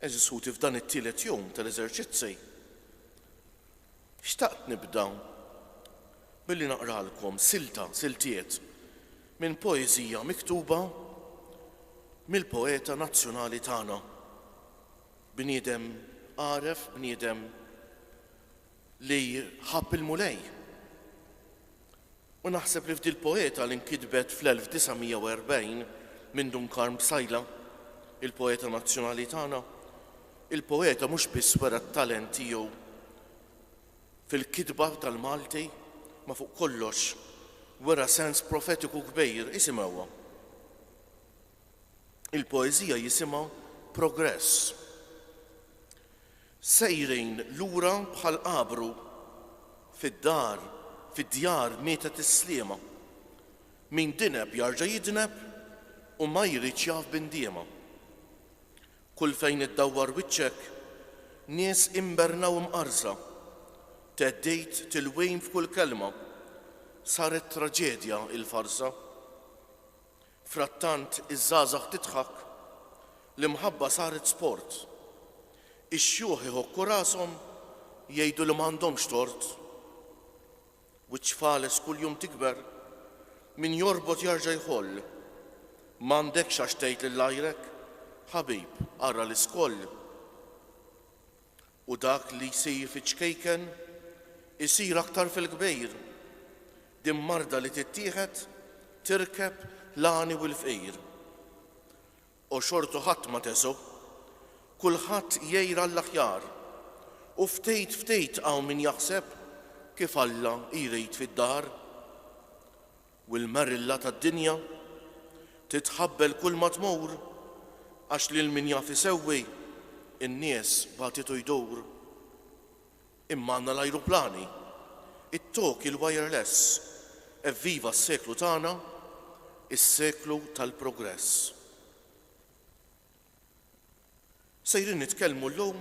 Għeżież ħuti f'dan it-tielet jum tal-eżerċizzi, xtaqt nibda billi naqralkom silta, siltiet, minn poeżija miktuba mill-poeta nazzjonali tagħna, bniedem għaref, bniedem li ħabb il-Mulej. U naħseb li f'dil-poeta li nkitbet fl-1940 minn Dun Karm Psaila, il-poeta nazzjonali tagħna, il-poeta mhux biss wera t-talent tiegħu fil-kitba tal-Malti, ma fuq kollox wera sens profetiku kbir, isimgħuha. il-poeżija jisimha progress. Sejrin lura bħal qabru fid-dar, fid-djar mietet is-sliema. Min dineb jarġa' jidneb u ma jridx jaf b'indiema. Kull fejn iddawwar wiċċek, nies imberna u mqarrża. Theddid tilwim f'kull kelma, saret traġedja il-farsa. Frattant iż-żgħażagħ tidħak, l-imħabba saret sport. Ix-xjuħ iħokku rashom, jgħidu li m'għandhomx tort. Wiċċ fales kuljum tikber, min jorbot jarġa' jħoll. M'għandekx għax tgħid lil għajrek, ħabib, ara l-iskoll. U dak li jsir fiċ-ċkejken isir aktar fil-kbejr. Din marda li tittieħed tirkeb l-għani u l-fqir. O xortu ħadd ma teżgħu. Kulħadd jgħir għall-aħjar. U ftit ftit hawn min jaħseb kif Alla jrid fid-dar. U l-marilla tad-dinja titħabbel kulma tmur, għax lil min jaf isewwi n-nies bagħtitu jdur. Imma għandna l-ajruplani, it-toki l-wireless, evviva s-seklu tagħna, is-seklu tal-progress. Sejrin nitkellmu llum,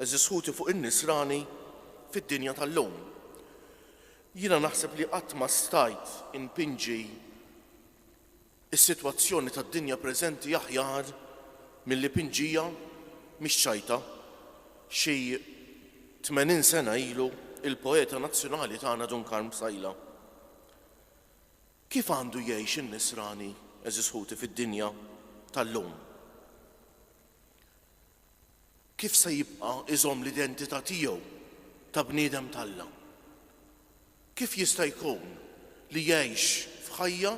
għeżież ħuti fuq in-nisrani fid-dinja tal-lum. Jiena naħseb li qatt ma stajt inpinġi s-sitwazzjoni tad-dinja preżenti aħjar milli pinġiha, mhix ċajta. Xi tmenin sena ilu l-poeta nazzjonali tagħna Dun Karm Psaila. Kif għandu jgħix in-Nisrani, għeżież ħuti, fid-dinja tal-lum? Kif se jibqa' iżomm l-identità tiegħu ta' bniedem t'Alla? Kif jista' jkun li jgħix f'ħajja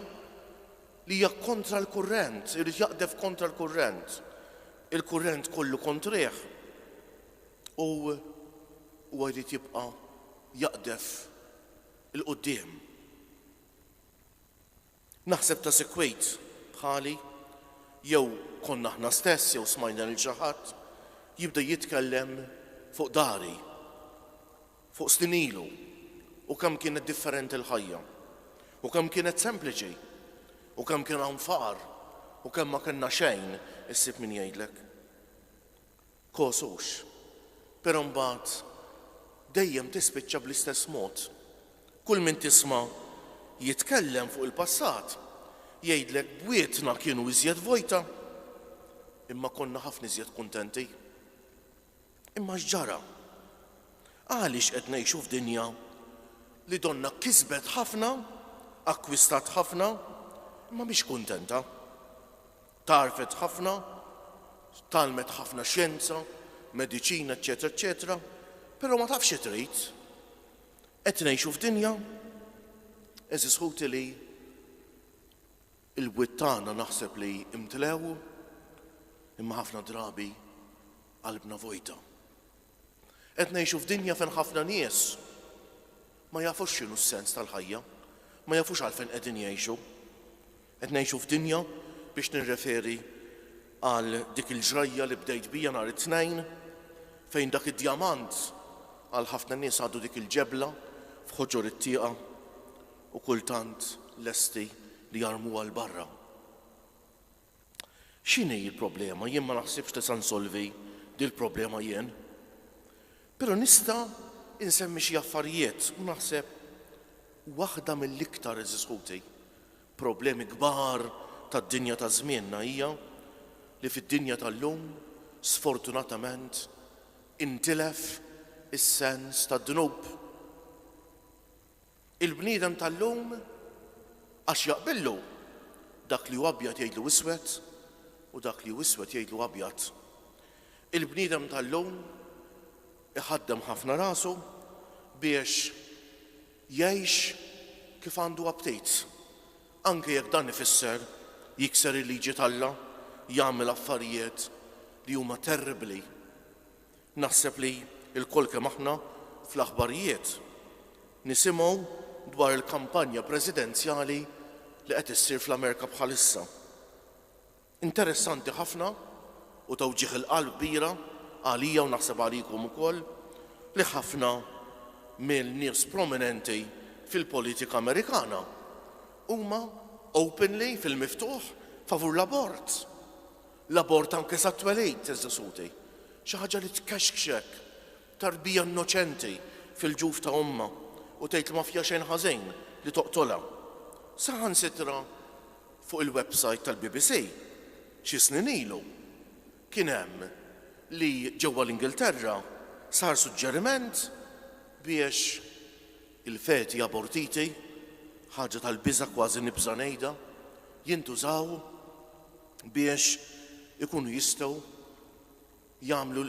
li hija kontra l-kurrent, irid jaqdef kontra l-kurrent? Il-kurrent kollu kontrih u huwa jrid jibqa' jaqdef 'l quddiem. Naħseb ta' sikwit bħali, jew konna aħna stess jew smajna lil xi ħadd jibda jitkellem fuq dari, fuq snin ilu u kemm kienet differenti l-ħajja, u kemm kienet sempliċi, u kemm kien hawn faqar, u kemm ma kellna xejn, issib min jgħidlek. kosux. Però mbagħad dejjem tispiċċa bl-istess mod. Kull min tisma' jitkellem fuq il-passat jgħidlek bwietna kienu iżjed vojta, imma konna ħafna iżjed kuntenti. Imma x'ġara? Għaliex qed ngħixu f'dinja li donnha kisbet ħafna, akkwistat ħafna, imma mhix kuntenta? Tgħarrfet ħafna, tgħallmet ħafna xjenza, mediċina eċċetera eċċetera, però ma tafx xi trid. Qed ngħixu f'dinja, eżis ħuti li il-bwiet tagħna naħseb li imtlew imma ħafna drabi qalbna vojta. Qed ngħixu f'dinja fejn ħafna nies Ma jafux x'inhu s-sens tal-ħajja. Ma jafux għalfejn qegħdin jgħixu. Qed ngħixu f'dinja, biex nirreferi għal dik il-ġrajja li bdejt biha nhar it-Tnejn, fejn dak id-djamant għal ħafna nies għadu dik il-ġebla f'ħoġor it-tieqa u kultant lesti li jarmuha 'l barra. X'inhi l-problema? Jien ma naħsibx li sa nsolvi dil-problema jien. Però nista' insemmi xi affarijiet u naħseb waħda mill-iktar, għeżież ħuti, problemi kbar tad-dinja ta' żmienna hija li fid-dinja tal-lum, sfortunatament, intilef is-sens tad-dnub. Il-bniedem tal-lum għax jaqbillu dak li hu abjad jgħidlu iswed u dak li hu iswed jgħidlu abjad. Il-bniedem tal-lum iħaddem ħafna rasu biex jgħix kif għandu aptit. Anke jekk dan ifisser jikser il-liġi t'Alla, jagħmel affarijiet li huma terribbli Naħseb li lkoll kemm aħna fl-aħbarijiet nisimgħu dwar il-kampanja presidenzjali li qed issir fl-Amerika bħalissa. Interessanti ħafna u ta' wġigħ il-qalb kbira għalija u naħseb għalikom ukoll li ħafna mill-nies prominenti fil-politika Amerikana huma openly fil-miftuħ favur l-abort. L-abort anke sat-twelid, iżda soti. Xi ħaġa li tkexkxek. Tarbija innoċenti fil-ġuf ta' ommha u tgħidlu ma fiha xejn ħażin li toqtolha. Saħansitra fuq il-websajt tal-BBC, xi snin ilu, kien hemm li ġewwa l-Ingilterra sar suġġeriment biex il-feti abortiti, ħaġa tal-biża' kważi nibża' ngħidha, jintużaw biex ikunu jistgħu jagħmlu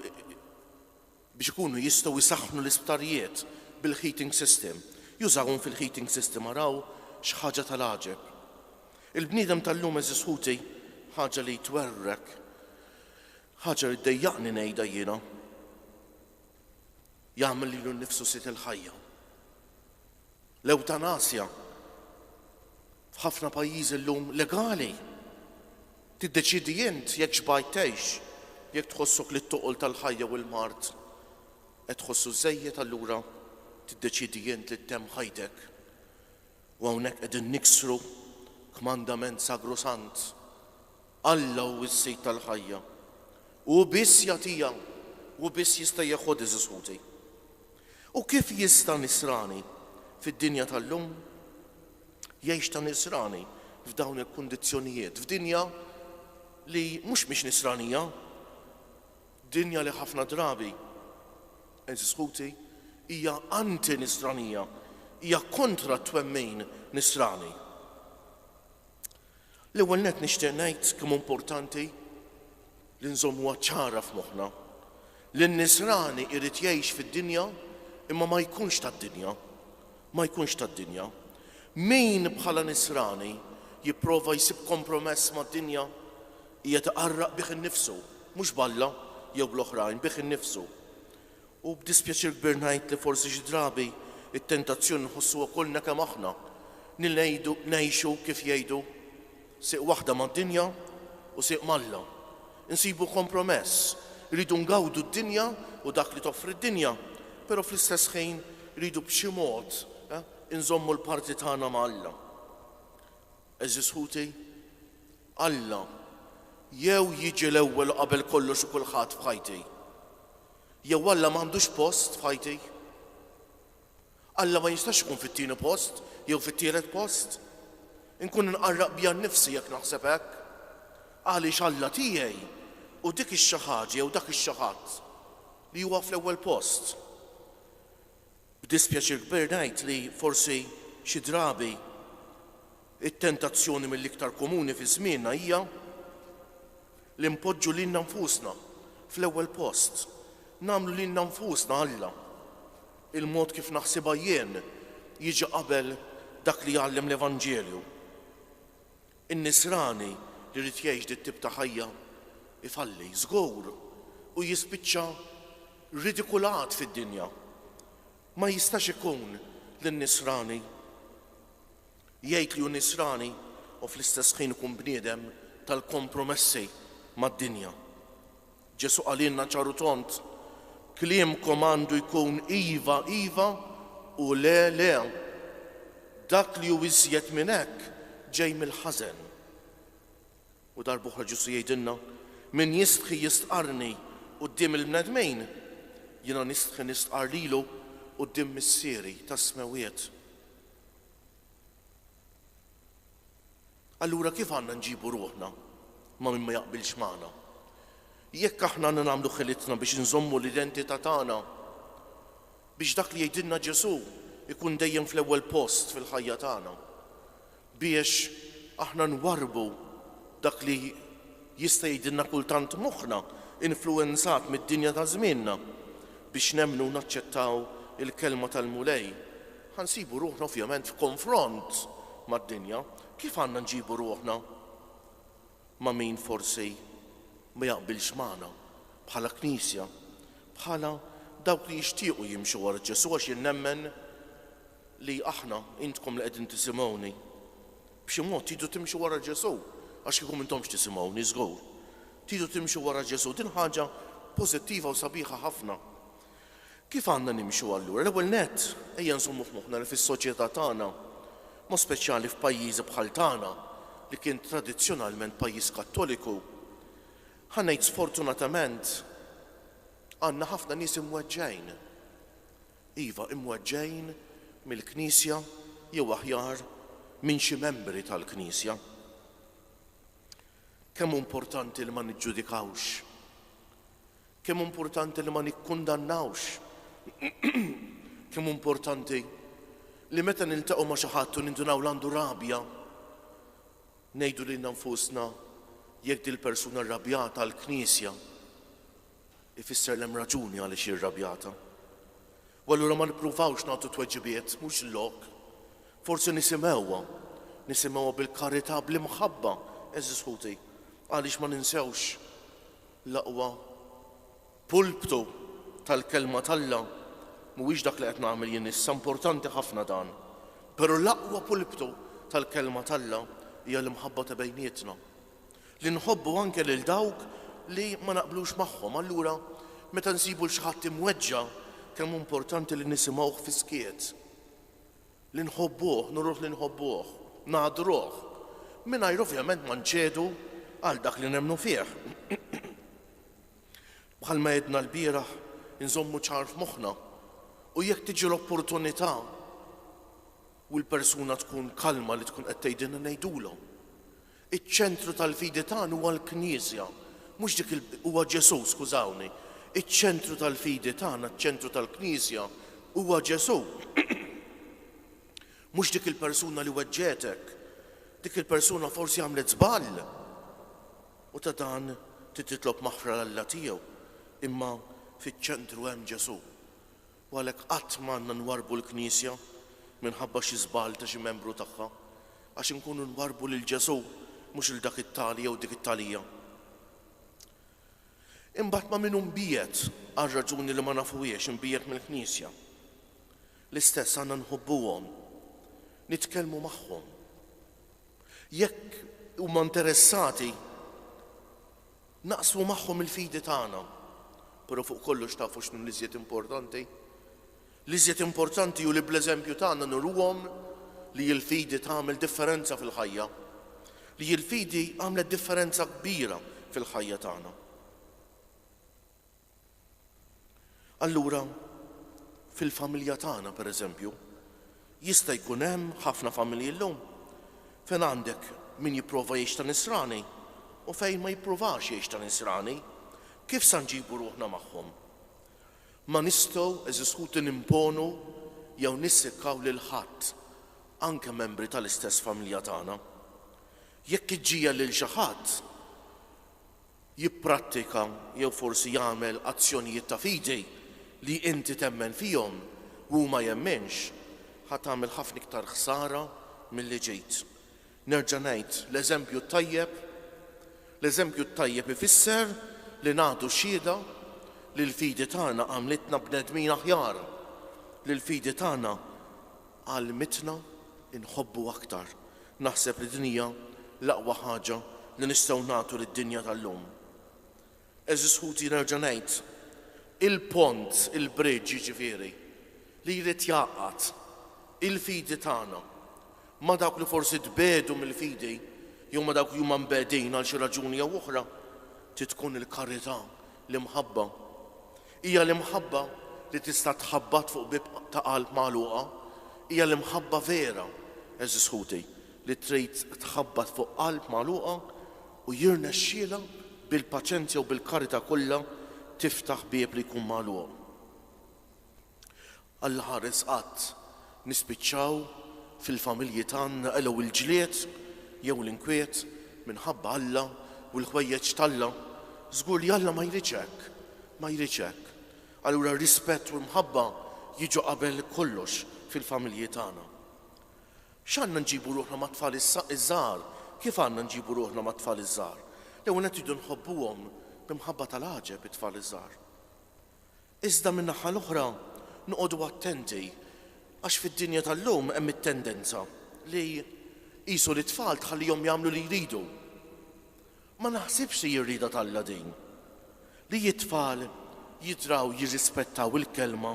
biex ikunu jistgħu jsaħħnu l-isptarijiet bil-heating system, jużawhom fil-heating system araw x'ħaġa tal-għaġeb. Il-bniedem tal-lum għeżież ħuti ħaġa li twerwrek, ħaġa li ddejjaqni ngħidha jiena. jagħmel lilu nnifsu sid il-ħajja. L-ewtanasja f'ħafna pajjiżi llum legali. Tiddeċiedi int jekk xbajt tgħix, jekk tħossok li t-toqol tal-ħajja u l-mard qed tħossu żejjed allura tiddeċiedi int li ttemm ħajtek. U hawnhekk qegħdin niksru kmandament sagrosant, Alla hu s-Sid tal-ħajja, u hu biss jagħtiha, hu biss jista' jeħodha għeżież ħuti. U kif jista' nisrani fid-dinja tal-lum jgħix ta' nisrani f'dawn il-kundizzjonijiet, f'dinja li mhux mhix nisranija, Dinja li ħafna drabi, għeżież ħuti, hija anti-Nisranija, hija kontra t-twemmin Nisrani. L-ewwel nett nixtieq ngħid kemm importanti li nżommuha ċara f'moħħna li n-Nisrani jrid jgħix fid-dinja imma ma jkunx tad-dinja, ma jkunx tad-dinja. Min bħala Nisrani jipprova jsib kompromess mad-dinja Hija tqarraq bih innifsu, mhux b'Alla jew bl-oħrajn, bih innifsu. U b'dispjaċir kbir ngħid li forsi xi drabi t-tentazzjoni nħossuha kollna kemm aħna, li ngħidu, ngħixu, kif jgħidu, sieq waħda mad-dinja u sieq m'Alla. Insibu kompromess, irridu ngawdu d-dinja u dak li toffri d-dinja, però fl-istess ħin irridu b'xi mod inżommu l-parti tagħna ma' Alla. Għeżież ħuti, Alla, jew jiġi l-ewwel u qabel kollox u kulħadd f'ħajti, jew Alla m'għandux post f'ħajti. Alla ma jistax ikun fit-tieni post jew fit-tielet post. Inkun inqarraq bija nnifsi jekk naħseb hekk. Għaliex Alla tiegħi hu dik ix-xi ħaġa jew dak ix-xi ħadd li huwa fl-ewwel post. B'dispjaċir kbir ngħid li forsi xi drabi t-tentazzjoni mill-iktar komuni fi żmienna hija li npoġġu lilna nfusna fl-ewwel post, nagħmlu lilna nfusna Alla, il-mod kif naħsibha jien jiġi qabel dak li jgħallem l-Evanġelju. In-Nisrani li jrid jgħix dik tip ta' ħajja jfalli, żgur, u jispiċċa ridikulat fid-dinja. Ma jistax ikun li n-Nisrani jgħid li hu Nisrani u fl-istess ħin ikun bniedem tal-kompromessi mad-dinja. Ġesù qalilna ċar u tond, Kliemkom għandu jkun iva, iva, u le, le. Dak li hu iżjed minn hekk ġej mill-ħażen. U darb'oħra Ġesù jgħidilna, Min jistħi jistqarrni quddiem il-bnedmin, jiena nistħi nistqarr lilu quddiem Missieri tas-Smewwiet. Allura kif għandna nġibu ruħna ma' min ma jaqbilx magħna? Jekk aħna għandna nagħmlu ħilitna biex inżommu l-identità tagħna, biex dak li jgħidilna Ġesù jkun dejjem fl-ewwel post fil-ħajja tagħna, biex aħna nwarrbu dak li jista' jgħidilna kultant moħħna influwenzat mid-dinja ta' żmienna, biex nemmnu u naċċettaw il-Kelma tal-Mulej Ħa nsibu ruħna ovvjament f'konfront mad-dinja. Kif għandna nġibu ruħna ma' min forsi ma jaqbilx magħna bħala Knisja, bħala dawk li jixtiequ jimxu wara Ġesù għax jien nemmen li aħna, intkom li qegħdin tisimgħuni, b'xi mod tridu timxu wara Ġesù għax kieku m'intomx tisimgħuni żgur. Tridu timxu wara Ġesù. Din ħaġa pożittiva u sabiħa ħafna. Kif għandna nimxu allura? L-ewwel nett, ejja nżommu f'moħħna li fis-soċjetà tagħna, b'mod speċjali f'pajjiżi bħal tagħna li kien tradizzjonalment pajjiż Kattoliku, ħa ngħid sfortunatament, għandna ħafna nies imweġġgħin. Iva, imweġġgħin mill-Knisja jew aħjar minn xi membri tal-Knisja. Kemm hu importanti li ma niġġudikawx. Kemm hu importanti li ma nikkundannawx! Kemm hu importanti li meta niltaqgħu ma' xi ħadd u nindunaw li għandu rabja, ngħidu lilna nfusna, Jekk dil-persuna rrabjata għall-Knisja, ifisser li hemm raġuni għaliex hi rrabjata. U allura ma nippruvawx nagħtu tweġibiet, mhux il-lok. Forsi nisimgħuha, nisimgħuha bil-karità, bl-imħabba, eżis ħuti, għaliex ma ninsewx L-aqwa pulptu tal-Kelma t'Alla mhuwiex dak li qed nagħmel jien issa, importanti ħafna dan, però l-aqwa pulptu tal-Kelma t'Alla hija l-imħabba ta' bejnietna, li nħobbu anke lil dawk li ma naqblux magħhom. Allura, meta nsibu 'l xi ħadd imweġġa', kemm hu importanti li nisimgħuh fis-skiet! Li nħobbuh, nuruh li nħobbuh, nagħdruh, mingħajr ovvjament ma nċedu għal dak li nemmnu fih. Bħalma għedna lbieraħ, inżommu ċar f'moħħna u jekk tiġi l-opportunità u l-persuna tkun kalma li tkun qed tgħidilna ngħidulhom. Iċ-ċentru tal-fidi tagħna huwa l-Knisja, mhux dik il, huwa Ġesù, skużawni. Iċ-ċentru tal-fidi tagħna, iċ-ċentru tal-Knisja, huwa Ġesù. Mhux dik il-persuna li weġġgħetek. Dik il-persuna forsi għamlet żball. U ta' dan trid titlob maħfra l-Alla tiegħu. Imma fiċ-ċentru hemm Ġesù. U għalhekk qatt ma għandna nwarrbu l-Knisja minħabba xi żball ta' xi membru tagħha, għax inkunu nwarrbu lil Ġesù, mhux 'il dak it-tali jew dik it-talija. Imbagħad ma' min hu mbiegħed għal raġuni li ma nafuhiex, imbiegħed mill-Knisja, l-istess għandna nħobbuhom, nitkellmu magħhom. Jekk huma interessati, Naqsmu magħhom il-fidi tagħna. Però fuq kollox tafu x'nu l-iżjed importanti? L-iżjed importanti hu li bl-eżempju tagħna nuruhom li l-fidi tagħmel differenza fil-ħajja. Li l-fidi għamlet differenza kbira fil-ħajja tagħna. Allura, fil-familja tagħna, pereżempju, jista' jkun hemm ħafna familji llum fejn għandek min jipprova jgħix ta' nisrani u fejn ma jippruvax jgħix ta' nisrani. Kif sa nġibu ruħna magħhom? Ma nistgħu, għeżież ħuti, nimponu jew nissikkaw lil ħadd, anke membri tal-istess familja tagħna. Jekk iġġiegħel lil xi ħadd, jipprattika jew forsi jagħmel azzjonijiet ta' fidi li inti temmen fihom u hu ma jemminx, ħa tagħmel ħafna iktar ħsara milli ġejt. Nerġa' ngħid, l-eżempju t-tajjeb, l-eżempju t-tajjeb ifisser li nagħtu xhieda li l-fidi tagħna għamlitna bnedmin aħjar, li l-fidi tagħna, Għallmitna nħobbu aktar. Naħseb li din hija l-aqwa ħaġa li nistgħu nagħtu lid-dinja tal-lum. Għeżież ħuti nerġa' ngħid, il-pont, il-bridge jiġifieri, li jrid jgħaqqad il-fidi tagħna ma' dawk li forsi tbiegħdu mill-fidi jew ma' dawk li huma mbegħdin għal xi raġuni jew oħra, trid tkun il-karità, l-imħabba. Hija l-imħabba li tista' tħabbat fuq bieb ta' qalb magħluqa. Hija l-imħabba vera, għeżież ħuti, li trid tħabbat fuq qalb magħluqa u jirnexxielha bil-paċenzja u bil-karità kollha tiftaħ bieb li jkun magħluq. Alla ħares qatt nispiċċaw fil-familji tagħna qelgħu il-ġlied jew l-inkwiet minħabba Alla u l-ħwejjeġ t'Alla? Żgur li Alla ma jridx hekk, ma jridx hekk. Allura r-rispett u l-mħabba jiġu qabel kollox fil-familji tagħna. X'għandna nġibu ruħna mat-tfal iż-żgħar? Kif għandna nġibu ruħna mat-tfal iż-żgħar? L-ewwel nett irridu nħobbuhom bi mħabba tal-għaġeb it-tfal iż-żgħar. Iżda min-naħa l-oħra noqogħdu attenti għax fid-dinja tal-lum hemm it-tendenza li qisu lit-tfal tħallihom jagħmlu li jridu. Ma naħsibx li hi rieda t'Alla din, li t-tfal jidraw jirrispettaw il-kelma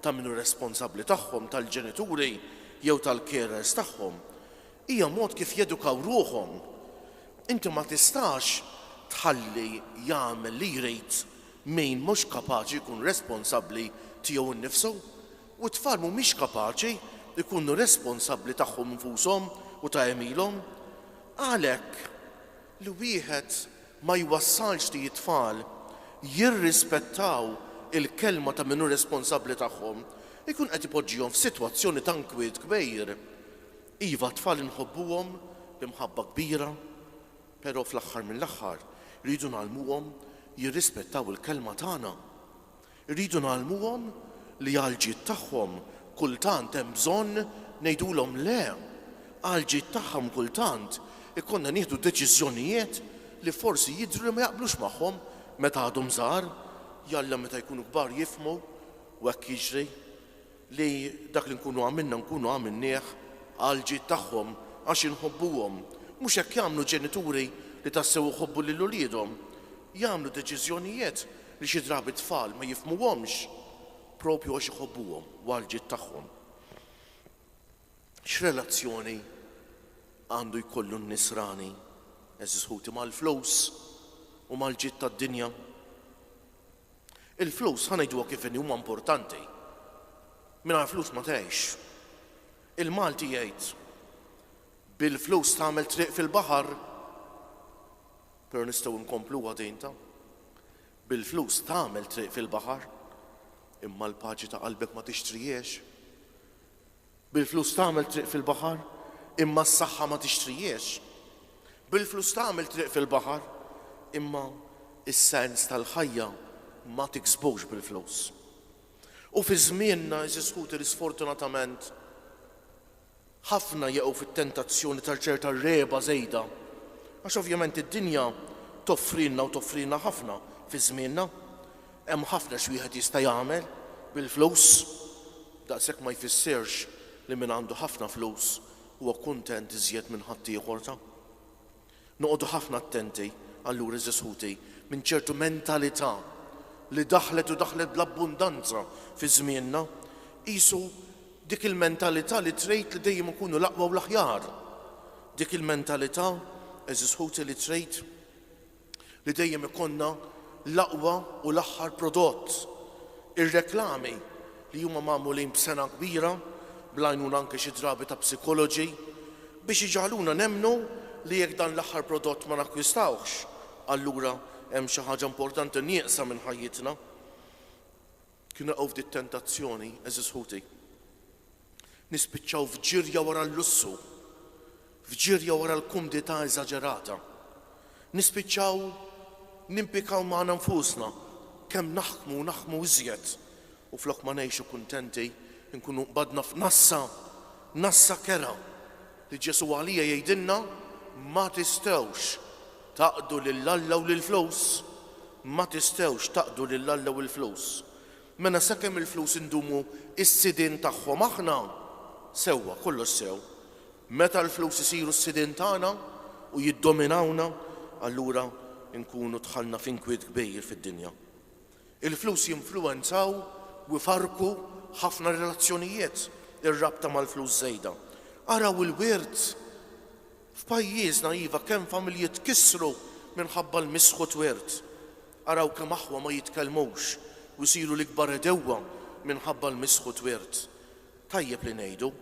ta' min hu responsabbli tagħhom, tal-ġenituri jew tal-carers tagħhom. Hija mod kif jedukaw ruħhom. Inti ma tistax tħalli jagħmel li jrid Min mhux kapaċi jkun responsabbli tiegħu nnifsu, u t-tfal mhumiex kapaċi jkunu responsabbli tagħhom infushom u ta' għemilhom. Għalhekk, li wieħed ma jwassalx li t-tfal jirrispettaw il-kelma ta' min hu responsabbli tagħhom, ikun qed ipoġġihom f'sitwazzjoni ta' nkwiet kbir. Iva, t-tfal inħobbuhom b'imħabba kbira, Però fl-aħħar mill-aħħar rridu ngħallmuhom jirrispettaw il-kelma tagħna. Irridu ngħallmuhom li għall-ġid tagħhom kultant hemm bżonn ngħidulhom le. Għall-ġid tagħhom kultant ikollna nieħdu deċiżjonijiet li forsi jidhru li ma jaqblux magħhom meta għadhom żgħar. Jalla meta jkunu kbar jifhmu u hekk jiġri. li dak li nkunu għamilna nkunu għamilnieh għall-ġid tagħhom għax inħobbuhom. Mhux hekk jagħmlu ġenituri li tassew iħobbu lil uliedhom. Jagħmlu deċiżjonijet li xi drabi t-tfal ma jifhmuhomx proprju għax iħobbuhom u għall-ġid tagħhom. X'relazzjoni għandu jkollu n-nisrani, għeżież ħuti, mal-flus u mal-ġid tad-dinja? Il-flus, ħa ngħiduha kif inhi, huma importanti. Mingħajr flus ma tgħix. Il-Malti jgħid, Bil-flus tagħmel triq fil-baħar. Però nistgħu nkompluha din ta', Bil-flus tagħmel triq fil-baħar, imma l-paċi ta' qalbek ma tixtrihiex. Bil-flus tagħmel triq fil-baħar, imma s-saħħa ma tixtrihiex. Bil-flus tagħmel triq fil-baħar, imma s-sens tal-ħajja ma tiksbux bil-flus. U fi żmienna, għeżież ħuti, li sfortunatament ħafna jaqgħu fit-tentazzjoni ta' ċerta regħba żejda, għax ovvjament id-dinja toffrilna u toffrilna ħafna fi żmienna, Hemm ħafna x'wieħed jista' jagħmel bil-flus, daqshekk ma jfissirx li min għandu ħafna flus huwa kuntent iżjed minn ħaddieħor ta'. Noqogħdu ħafna attenti allura għeżież ħuti minn ċertu mentalità li daħlet u daħlet bl-abbundanza fi żmienna, qisu dik il-mentalità li trid li dejjem ikunu l-aqwa u l-aħjar, dik il-mentalità għeżież ħuti li trid. li dejjem ikollna l-aqwa u l-aħħar prodott. Ir-reklami, li huma magħmulin b'sengħa kbira, bl-għajnuna anke xi drabi ta' psikoloġi, biex iġagħluna nemmnu li jekk dan l-aħħar prodott ma nakkwistawhx, allura hemm xi ħaġa importanti nieqsa minn ħajjitna. Kniequ f'di t-tentazzjoni, għeżież ħuti. Nispiċċaw f'ġirja wara l-lussu, f'ġirja wara l-kumdità eżaġerata. Nispiċċaw nimpikaw magħna nfusna kemm naħkmu u naħkmu iżjed, u flok ma ngħixu kuntenti, inkunu nqbadna f'nassa, nassa kerha, li Ġesù għalija jgħidilna, Ma tistgħux taqdu lil Alla u lill-flus. Ma tistgħux taqdu lil Alla u l-flus. Mela sakemm il-flus indumu s-sidien tagħhom aħna, sewwa, kollox sew. Meta l-flus isiru s-sidien tagħna u jiddominawna, allura nkunu dħalna f'inkwiet kbir fid-dinja. Il-flus jinfluwenzaw u jfarrku ħafna relazzjonijiet, ir-rabta mal-flus żejda. Araw il-wirt. F'pajjiżna iva kemm familji tkissru minħabba l-misħ u t-twirt. Araw kemm aħwa ma jitkellmux u jsiru l-ikbar għedewwa minħabba l-misħ u t-twirt. Tajjeb li ngħidu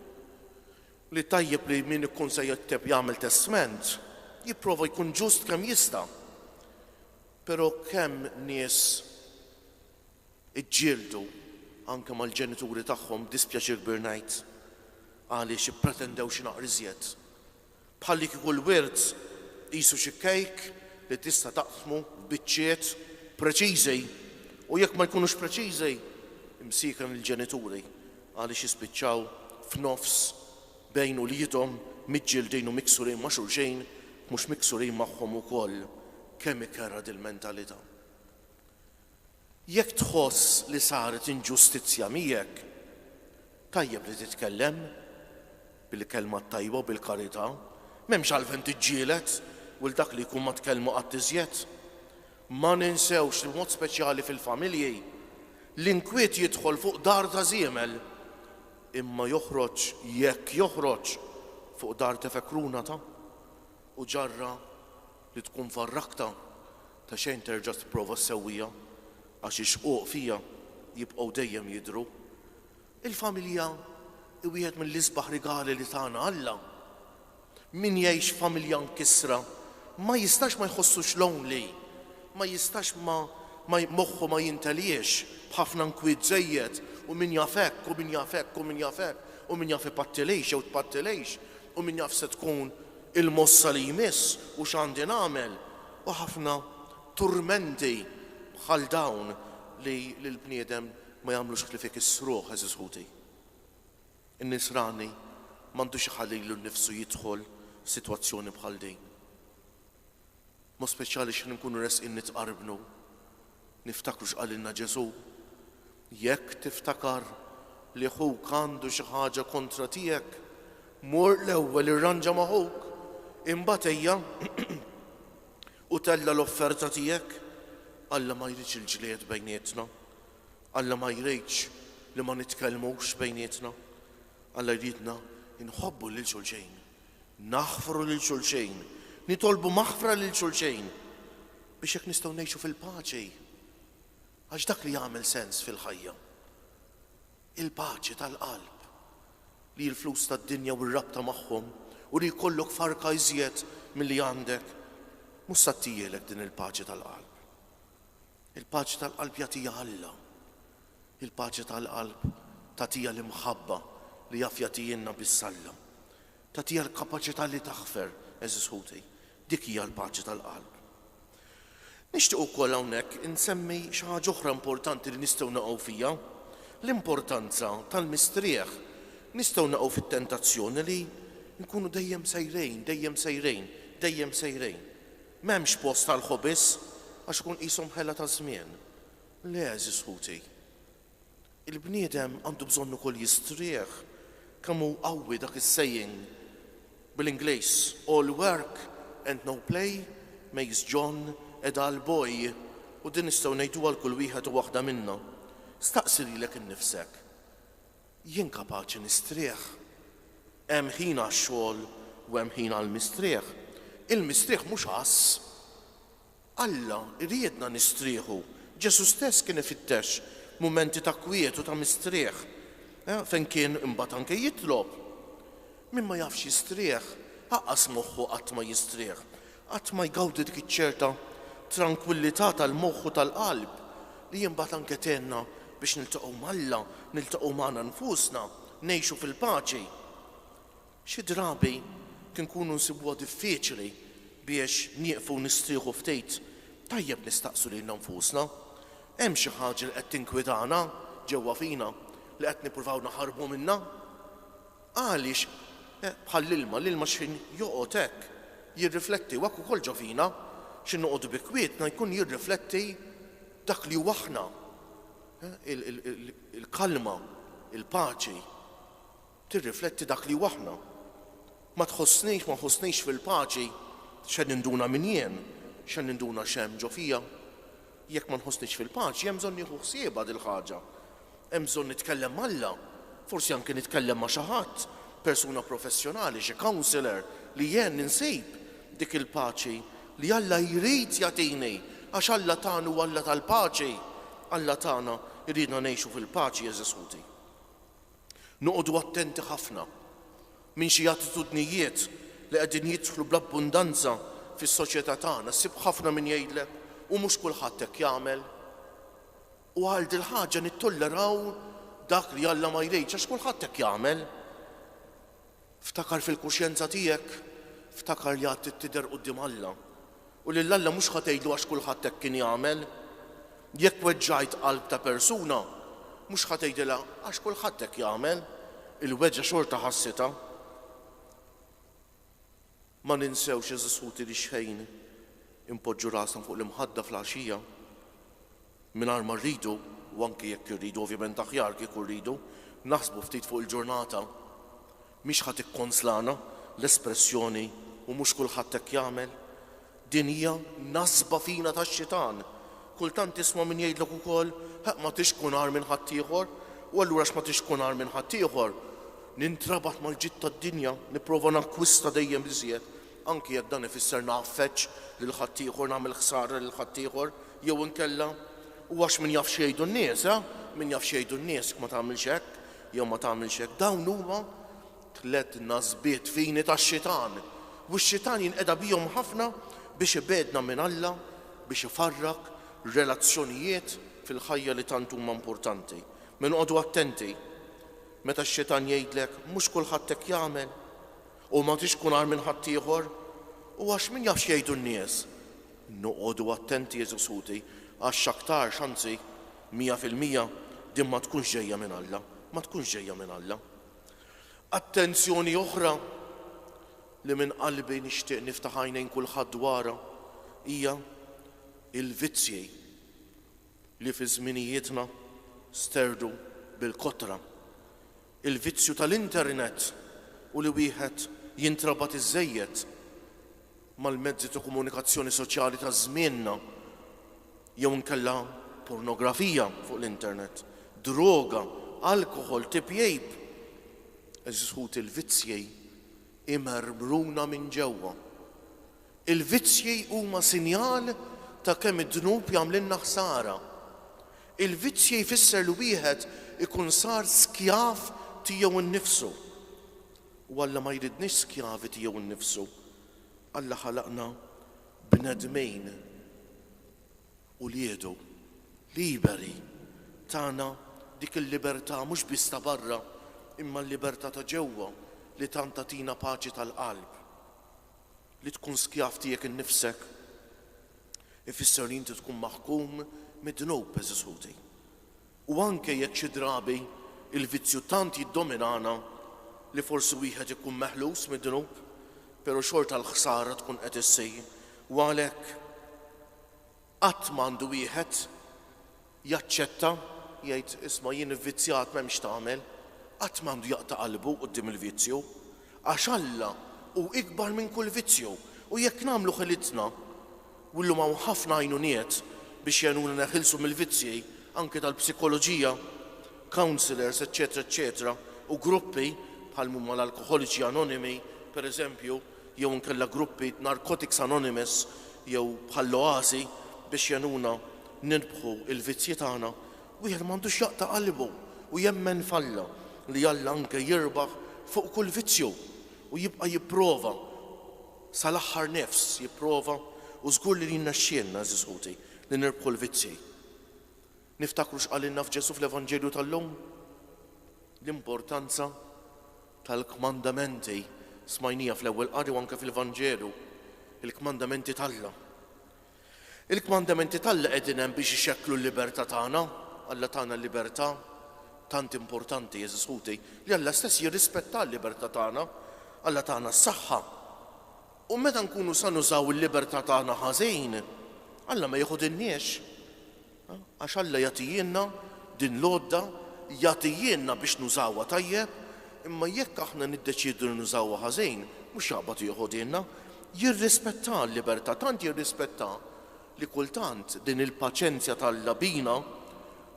li tajjeb li min ikun se jikteb, jagħmel testment, jipprova jkun ġust kemm jista'. Però kemm nies. Iġġieldu anke mal-ġenituri tagħhom b'dispjaċir kbir ngħid għaliex ippretendew xi naqra iżjed. Bħal li kieku l-wirt qisu xi kejk li tista' taqsmu f'biċċiet preċiżi u jekk ma jkunux preċiżi, imsieken il-ġenituri għaliex jispiċċaw f'nofs bejn uliedhom miġġieldin u miksurin ma' xulxin mhux miksurin magħhom ukoll. Kemm ikerrha dil-mentalità! Jekk tħoss li saret inġustizzja miegħek, tajjeb li titkellem, bil-kelma t-tajba u bil-karità. M'hemmx għalfejn tiġġieled u 'l dak li jkun ma tkellmu qatt iżjed. Ma ninsewx li b'mod speċjali fil-familji, l-inkwiet jidħol fuq dar ta' żiemel, imma joħroġ, jekk joħroġ, fuq dar tefekruna ta' u ġarra Li tkun farrakta, ta' xejn terġa' tipprova ssewwiha, għax ix-xquq fija jibqgħu dejjem jidhru. Il-familja hi wieħed mill-isbaħ rigali li tana Alla. Min jgħix f'familja mkissra ma jistax ma jħossux lonely, ma jistax ma ma moħħu ma jinteliex b'ħafna nkwiet żejjed u min jaf hekk u min jaf hekk u min jaf hekk u min jaf ipattilhiex jew tpattilhiex u min jaf se tkun Il-mossa li jmiss u x'għandi nagħmel u ħafna turmenti bħal dawn li lill-bniedem ma jagħmlux ħlief ikissruh, għeżież ħuti. In-nisrani m'għandux iħallilu nnifsu jidħol f'sitwazzjoni bħal din. Mod speċjali x'ħin inkunu resqin nitqarbnu, niftakru x'qalilna Ġesù. Jekk tiftakar li ħuk għandu xi ħaġa kontra tiegħek, mur l-ewwel irranġa ma' ħuk, imbagħad ejja u tella' l-offerta tiegħek. Alla ma jridx il-ġlied bejnietna. Alla ma jridx li ma nitkellmux bejnietna. Alla jridna nħobbu lil xulxin. Naħfru lil xulxejn, nitolbu maħfra lil xulxejn, biex hekk nistgħu ngħixu fil-paċi. Għax dak li jagħmel sens fil-ħajja, il-paċi tal-qalb, li l-flus tad-dinja u r-rabta magħhom u li jkollok farka iżjed milli għandek, mhux se ttiegħlek din il-paċi tal-qalb. Il-paċi tal-qalb jagħtiha Alla. Il-paċi tal-qalb tagħtiha l-imħabba li jaf jagħtihielna biss Alla. Tagħtiha l-kapaċità li taħfer, għeżież ħuti. Dik hija l-paċi tal-qalb. Nixtieq ukoll hawnhekk insemmi xi ħaġa oħra importanti li nistgħu naqgħu fiha, l-importanza tal-mistrieħ. Nistgħu naqgħu fit-tentazzjoni li nkunu dejjem sejrejn, dejjem sejrejn, dejjem sejrejn. M'hemmx post għall-ħobis, għax ikun qishom ħela taż-żmien. Le, għeżież ħuti. Il-bniedem għandu bżonn ukoll jistrieħ. Kemm hu qawwi dak is-saying bil-Ingliż, All work and no play makes John a dull boy, u din nistgħu ngħiduha għal kull wieħed u waħda minna. Staqsi lilek innifsek. Jien kapaċi nistrieħ. Hemm ħin għax-xogħol u hemm ħin għall-mistrieħ. Il-mistrieħ mhux għażż. Alla jriedna nistrieħu. Ġesù stess kien ifittex mumenti ta' kwiet u ta' mistrieħ, fejn kien imbagħad anke jitlob. Min ma jafx jistrieħ, aqqas moħħu qatt ma jistrieħ. Qatt ma jgawdi dik iċ-ċerta trankwillità tal-moħħ u tal-qalb li imbagħad anke tgħinna biex niltaqgħu m'Alla, niltaqgħu magħna nfusna, ngħixu fil-paċi. Xi drabi kien nkunu nsibuha diffiċli biex nieqfu u nistrieħu ftit, tajjeb nistaqsu lilna nfusna, Hemm xi ħaġa li qed tinkwitana ġewwa fina li qed nippruvaw naħarbu minnha? Għaliex, bħall-ilma, l-ilma x'ħin joqgħod hekk jirrifletti, u hekk ukoll ġo fina, x'ħin noqogħdu bi kwietna jkun jirrifletti dak li hu aħna, il-kalma, il-paċi, tirrifletti dak li hu aħna. Ma tħossnix, ma nħossnix fil-paċi, x'se ninduna min jien, x'se ninduna x'hemm ġo fija? Jekk ma nħossnix fil-paċi, hemm bżonn nieħu ħsiebha dil-ħaġa. Hemm bżonn nitkellem ma' Alla. Forsi anki nitkellem ma' xi ħadd, persuna professjonali, xi counselor, li jgħenni nsib dik il-paċi li Alla jrid jagħtini, għax Alla tagħna huwa Alla tal-paċi. Alla tagħna jridna ngħixu fil-paċi, għeżież ħuti. Noqogħdu attenti ħafna minn xi attitudnijiet li qegħdin jidħlu bl-abbundanza fis-soċjetà tagħna. Ssib ħafna min jgħidlek, U mhux kulħadd hekk jagħmel. U għal dil-ħaġa nittolleraw dak li Alla ma jridx, għax kulħadd hekk jagħmel. Ftakar fil-kuxjenza tiegħek, ftakar li għad trid tidher quddiem Alla, u lil Alla mhux ħa tgħidlu għax kulħadd hekk kien jagħmel. Jekk weġġajt qalb ta' persuna, mhux ħa tgħidilha għax kulħadd hekk jagħmel, il-weġgħa xorta ħassitha. Ma ninsewx, għeżież ħuti, li xħejn inpoġġu rasna fuq l-imħadda fl-għaxija mingħajr ma rridu, u anki jekk irridu, ovvjament aħjar kieku rridu, naħsbu ftit fuq il-ġurnata. Mhix ħa tikkonslana l-espressjoni u mhux kulħadd hekk jagħmel. Din hija nasba fina tax-xitan. Kultant tisma' min jgħidlek ukoll, Ħa ma tridx tkun agħar minn ħaddieħor, u allura għax ma tridx tkun agħar minn ħaddieħor, nintrabat mal-ġid tad-dinja, nipprova nakkwista dejjem iżjed, anki jekk dan ifisser ngħaffeġ lil ħaddieħor, nagħmel ħsara lil ħaddieħor, jew inkella, U għax min jaf x'jgħidu n-nies, ha, min jaf x'jgħidu n-nies, ma tagħmilx hekk, jew ma tagħmilx hekk. Dawn huma Tliet nasbiet fini tax-xitan, u x-xitan jinqeda bihom ħafna biex ibegħdna minn Alla, biex ifarrak relazzjonijiet fil-ħajja li tant huma importanti. Minn qogħdu attenti meta x-xitan jgħidlek mhux kulħadd hekk jagħmel, u ma tridx tkun agħar minn ħaddieħor, u għax min jaf x'jgħidu n-nies. Noqogħdu attenti għeżież ħuti, għax x'aktarx, anzi, mija fil-mija, din ma tkunx ġejja minn Alla, ma tkunx ġejja minn Alla. Attenzjoni oħra li minn qalbi nixtieq niftaħ għajnejn kulħadd dwarha hija l-vizzji li fi żminijietna sterdu bil-kotra. Il-vizzju tal-internet u li wieħed jintrabat iżżejjed mal-mezzi ta' komunikazzjoni soċjali ta' żmienna jew inkella pornografija fuq l-internet, droga, alkoħol, tipjip. Għeżież ħuti l-vizzji jmermruna minn ġewwa. Il-vizzji huma sinjal ta' kemm id-dnub jagħmlilna ħsara. Il-vizzji jfisser li wieħed ikun sar skjav tiegħu nnifsu. U Alla ma jridniex skjavi tiegħu nnifsu. Alla ħalaqna bnedmin, uliedu, liberi. Tana dik il-libertà mhux biss ta' barra, imma l-libertà ta' ġewwa li tant tagħtina paċi tal-qalb. Li tkun skjav tiegħek innifsek ifisser li inti tkun maħkum mid-dnub, għeżież ħuti. U anke jekk xi drabi l-vizzju tant jiddominana li forsi wieħed ikun meħlus mid-dnub, pero' xorta l-ħsara tkun qed issir. U għalhekk qatt m'għandu wieħed jaċċetta, jgħid, isma' jien ivvizzjat m'hemmx tagħmel, qatt m'għandu jaqta' qalbu quddiem il-vizzju, Għax Alla hu ikbar minn kull vizzju, u jekk nagħmlu ħilitna, u llum hawn ħafna għajnuniet biex jgħinuna neħilsu mill-vizzji, anke tal-psikoloġija, counsellors, eċċetera eċċetera, u gruppi, bħal m'huma l-Alkoħoliċi Anonimi, per eżempju, jew inkella gruppi, Narcotics Anonymous, jew bħall-Oasi, biex jgħinuna nirbħu l-vizzji tagħna, Wieħed m'għandux jaqta' qalbu u jemmen f'Alla li Alla anke jirbaħ fuq kull vizzju u jibqa' jipprova sal-aħħar nifs jipprova u żgur li jnexxielna, għeżież ħuti, li nirbħu l-vizzji. Niftakru x'qalilna f'Ġesù fl-Evanġelju tal-lum? L-importanza tal-kmandamenti, smajniha fl-ewwel qari u anke fil-Vanġelu, il-kmandamenti t'Alla. Il-kmandamenti t'Alla qegħdin hemm biex ixekklu l-libertà tagħna. Alla tana l-libertà. Tant importanti, għeżież ħuti, li Alla stess jirrispetta l-libertà tagħna. Alla tana s-saħħa. U meta nkunu sa nużaw il-libertà tagħna ħażin, Alla ma jiħudinniex. Għax Alla jagħtijielna din l-għodda, jagħtijielna biex nużawha tajjeb, imma jekk aħna niddeċiedu li nużawha ħażin, mhux jaqbad jeħodhielna. Jirrispettà l-libertà, tant jirrispettà li kultant din il-paċenzja t'Alla bina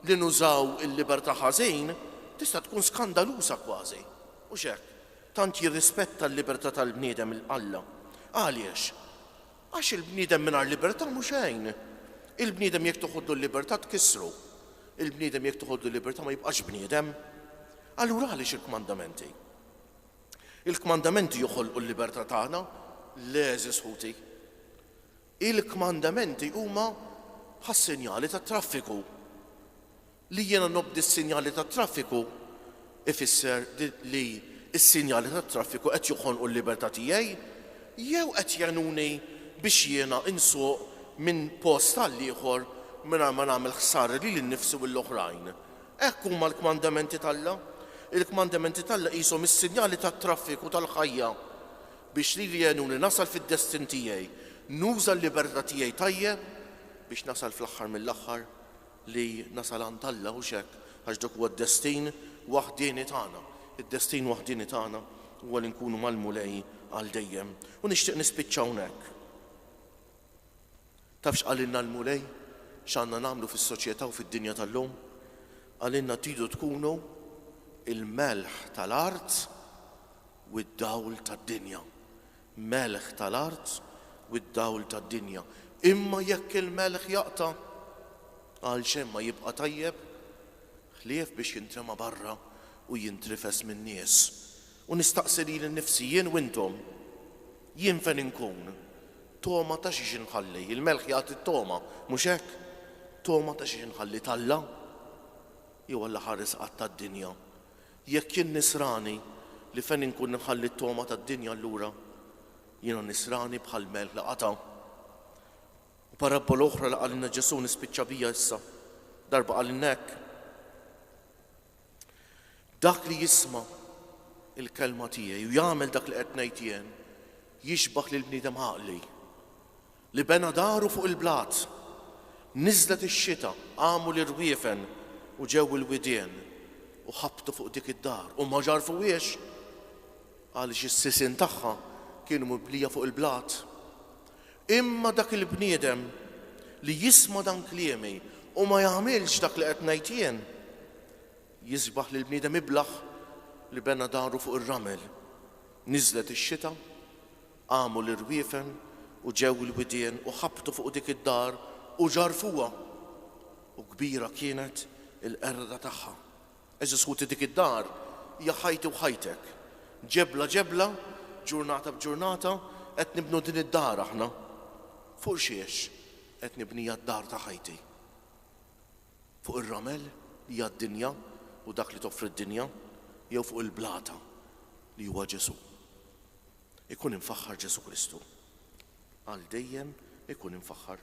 li nużaw il-libertà ħażin tista' tkun skandaluża kważi. Hux hekk? Tant jirrispetta l-libertà tal-bniedem Alla. Għaliex? Għax il-bniedem mingħajr libertà mhu xejn. Il-bniedem jekk toħodlu l-libertà tkissru. Il-bniedem jekk toħodlu l-libertà ma jibqax bniedem. Allura għaliex il-kmandamenti? Il-kmandamenti joħolqu l-libertà tagħna? Le, għeżież ħuti. Il-kmandamenti huma bħas-sinjali tat-traffiku. Li jiena nobdi s-sinjali tat-traffiku jfisser li s-sinjali tat-traffiku qed joħonqu l-libertà tiegħi jew qed jgħinuni biex jiena nsuq minn post għal ieħor mingħajr ma nagħmel ħsara lili nnifsi u l-oħrajn? Hekk huma l-kmandamenti t'Alla. Il-kmandamenti t'Alla qishom is-sinjali tat-traffiku tal-ħajja biex lili jgħinuni nasal fid-destin tiegħi, nuża l-libertà tiegħi tajjeb biex nasal fl-aħħar mill-aħħar Li nasal għand Alla, hux hekk? Għax dak huwa d-destin waħdieni tagħna. Id-destin waħdieni tagħna huwa li nkunu mal-Mulej għal dejjem. U nixtieq nispiċċa hawnhekk. Taf x'qalilna l-Mulej x'għandna nagħmlu fis-soċjetà u fid-dinja tal-lum? Qalilna tridu tkunu il-melħ tal-art u d-dawl tad-dinja. melħ tal-art u d-dawl tad-dinja. Imma jekk il-melħ jaqta', għalxejn ma jibqa' tajjeb, ħlief biex jintrema barra u jintrifes min-nies. U nistaqsi lili nnifsi, jien u intom, jien fejn inkun? Togħma ta' xiex inħalli? Il-melħ jagħti t-togħma, mhux hekk? Togħma ta' xiex inħalli, t'Alla? Jew Alla ħares qatta d-dinja? Jekk jien Nisrani, li fejn inkun inħalli t-togħma tad-dinja allura jiena Nisrani bħal melħ li qata'. U parabbola oħra li qalilna Ġesù nispiċċa biha issa. Darba qalilna hekk, Dak li jisma' l-kelma tiegħi u jagħmel dak li qed ngħid jien jixbah lill-bniedem għaqli. Li bena daru fuq il-blat. Niżlet ix-xita, qamu l-irwiefen u ġew il-widien u ħabtu fuq dik id-dar u ma ġarrfuhiex għaliex is-sisien tagħha kienu mibnija fuq il-blat. Imma dak il-bniedem li jisma' dan kliemi u ma jagħmilx dak li qed ngħid jien, jisbaħ lil bniedem iblah li bena daru fuq ir-ramel. Niżlet ix-xita, Qamu l-irwiefen u ġew il-widien u ħabtu fuq dik id-dar u ġarrfuha, u kbira kienet il-qerda tagħha. Għeżież ħuti dik id-dar hija ħajti u ħajtek. Ġebla ġebla, ġurnata b'ġurnata qed nibnu din id-dar aħna. Fuq x'hiex qed nibniha d-dar ta' ħajti? Fuq ir-ramel li hija d-dinja u dak li toffri d-dinja jew fuq il-blata li huwa Ġesù? Ikun imfaħħar Ġesù Kristu. Għal dejjem ikun imfaħħar.